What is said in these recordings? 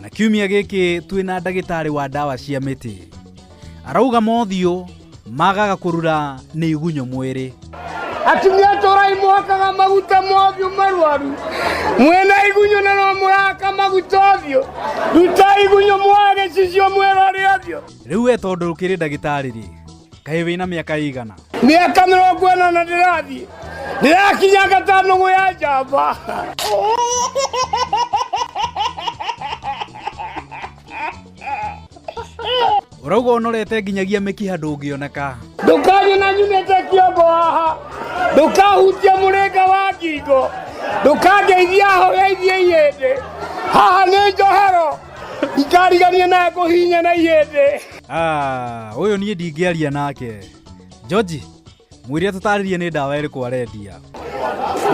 na kiumia gĩkĩ twĩ na ndagĩtarĩ wa ndawa cia mĩtĩ arauga mothiũ magaga kũrura nĩ igunyũ mwĩrĩ atumia tũrai mwakaga maguta mothiũ marwaru mwĩna igunyũ na no mũraka maguta ũthiũ ruta igunyũ mwage cicio mwĩrore ũthiũ rĩu we tondũ ũkĩrĩ ndagĩtarĩ rĩ kaĩ wĩna mĩaka ĩigana mĩaka mĩrongo ĩna na ndĩrathiĩ ndĩrakinya gatano gũ ya njamba ũrauga ũnorete nginyagia mĩkiha ndũngĩoneka ndũkanye na nyunĩte kĩongo haha ndũkahutia mũrĩnga wa ngingo ndũkangeithia hogeithie ihĩndĩ haha nĩ njohero ikarigania na ngũhinya na ihĩndĩ Ah, ũyũ niĩ ndingĩaria nake George mwĩre atũtarĩrie nĩ ndawa ĩrĩkũ arendia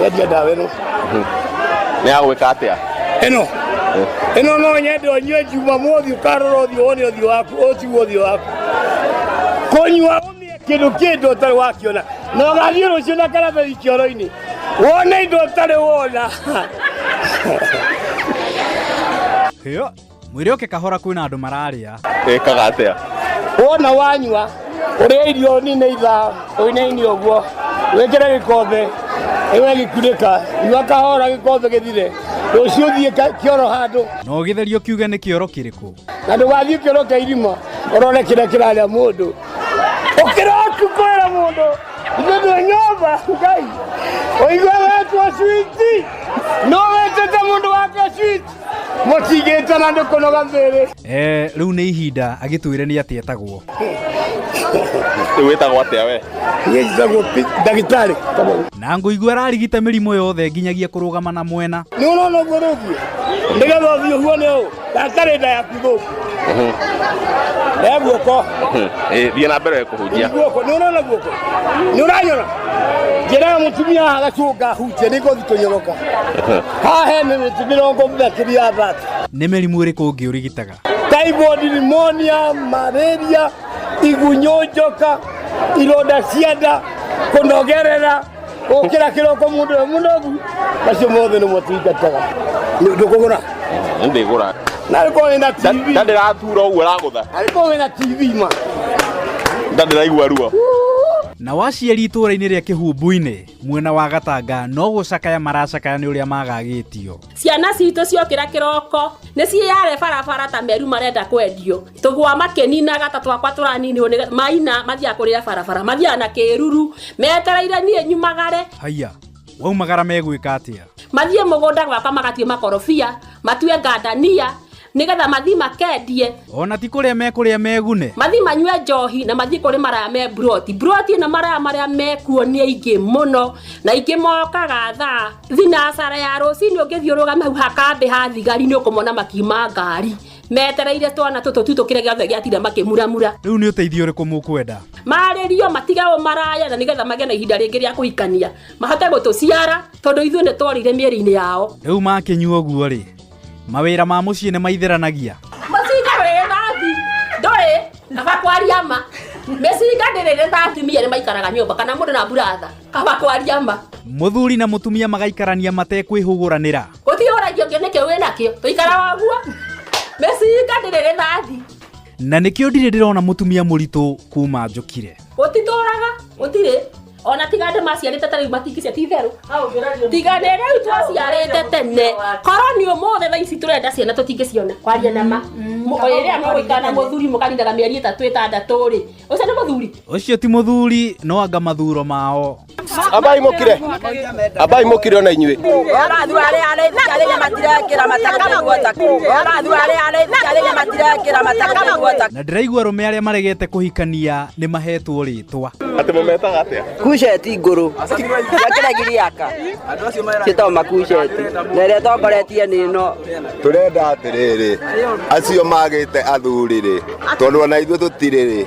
Nyendia ndawa ĩno. Nĩ ya gwĩka atĩa? Ĩno. Ĩno no nyende ũnyue Jumamothi ũkarora ũthiũ wone ũthiũ waku ũciwo ũthiũ waku. Kũnyua ũmĩe kĩndũ kĩndũ ũtarĩ wakiona. Na ũgathiĩ rũciũ na karatathi kĩoro-inĩ. Wone indo ũtarĩ wona. Yo. mwĩre oke kahora kwĩna andũ mararĩa ĩkaga atĩa wona wanyua ũrĩa irio nini itha ũinaini ũguo wĩkĩre gĩkombe ĩwe gĩkunĩka nyua kahora gĩkombe gĩthire rũciũ thiĩ ka- kĩoro handũ na ũgĩtherio kiuge nĩ kĩoro kĩrĩkũ na ndũgathiĩ kĩoro kĩa irima ũrore kĩrĩa kĩrarĩa mũndũ ũkĩra ũtukũĩra mũndũ ithuĩ twĩ nyũmba ngai ũigua wetwo switi no wetete mũndũ wake switi Mũtigĩte na nĩ kũnoga thĩrĩ. Eh, rĩu nĩ ihinda agĩtwĩre nĩ atĩa etagwo. Rĩu wĩtagwo atĩa we? Niĩ njĩtagwo ndagĩtarĩ. Na ngũigua ararigita mĩrimũ yothe nginyagia kũrũgama na mwena. Nĩ ũrona ũguo rĩngĩ? Nĩgetha ũthiĩ ũhuone ũũ, ndakare nda yaku thũku. Rĩa guoko. Eh, thiĩ na mbere kũhunjia Guoko. Nĩ ũrona guoko? Nĩ ũranyona? Njĩra mũtumia haha gacũnga hunjia nĩ ngũthi kũnyoroka. Haha he mĩmĩtĩ mĩrongo makĩria thate. Nĩ mĩrimũ ĩrĩkũ ũngĩ ũrigitaga? Typhoid, pneumonia, malaria, igunyũ njoka, ironda cia nda, kũnogerera. gukira kiroko mundu we munogu acio mothe nä motungataga ndå kå gå ra nä ndä gå ra na rä korwo wä na tv ndä ratura å guo ragå tha na rä korwo wä na tv ma nda ndä raigua ruo na waciari itũũra-inĩ rĩa kĩhumbu-inĩ mwena wa gatanga no gũcakaya maracakaya nĩ ũrĩa magagĩtio ciana citũ ciokĩra kĩroko nĩ ciĩyare barabara ta meru marenda kwendio tũgwa makĩninaga ta twakwa tũraninirwo nĩ maina mathiaga kũrĩa barabara mathiaga na kĩruru metereire niĩ nyumagare haiya waumagara megwĩka atĩa mathiĩ mũgũnda gwakwa magatue makorobia matue ngandania nĩgetha mathiĩ makendie ona ti kũrĩa mekũrĩa megune mathiĩ manyue njohi na mathiĩ kũrĩ maraya me mburoti mburoti na maraya marĩa mekuo nĩ aingĩ mũno na aingĩ mokaga thaa thinacara ya rũcinĩ ũngĩthiũrũrũka hau hakambĩ ha thigari nĩ ũkũmona makiuma ngari metereire twana tũtũ tu tũkĩre gĩothe gĩatira makĩmuramura rä u nä å teithio å rä kå må kwenda marĩrio matige ũmaraya na nĩgetha magĩe na ihinda rĩngĩ rĩa kũhikania mahote gũtũciara tondũ ithuĩ nĩ tworĩire mĩĩrĩ-inĩ yao rä u makä nyua å guo rä mawä ra ma må ciä nä maitheranagia mũcinga wĩ thambi ndũrĩ kaba kwaria ma mĩcinga ndĩrĩ nĩ thambi mia nĩ maikaraga nyũmba kana mũndũ na mburatha kaba kwaria ma må thuri na må tumia magaikarania matekwä hå gå ranä ra Gũtirĩ ũragio kĩo nĩkĩo wĩ nakĩo. Tũikara waguo. Mĩcinga ndĩrĩ rĩthathi. Na nĩkĩo ndirĩ ndĩrona mũtumia mũritũ kuma njũkire. Gũtitũraga, gũtirĩ. Ona tiga andũ maciarĩte tarĩu matingĩcia ti itherũ. Tiga nĩ rĩu twaciarĩte tene. Korwo nĩ ũmũthĩ thaa ici tũrenda ciana tũtingĩciona. Kwaria na ma. Rĩrĩa mũgũikara na mũthuri mũkarindaga mĩeri ĩtatũ ĩtandatũ-rĩ, ũcio nĩ mũthuri? Ũcio ti mũthuri no anga mathuro mao. ambai mukire ambai mukire ona inyuĩ Orathu arĩa araithi arĩa matirekĩra mataka nĩguo taka. Orathu arĩa araithi arĩa matirekĩra mataka nĩguo taka. na ndĩraigua arũme arĩa maregete kũhikania nĩ mahetwo rĩtwa atä må metaga atä a kuceti ngũrũ ya kĩrĩa giriaka gĩtagwo makuceti na ĩrĩa tongoretie nĩ ĩno tå renda atä rä rä acio magä te athurä rä tondå ona ithuä tå tirä rä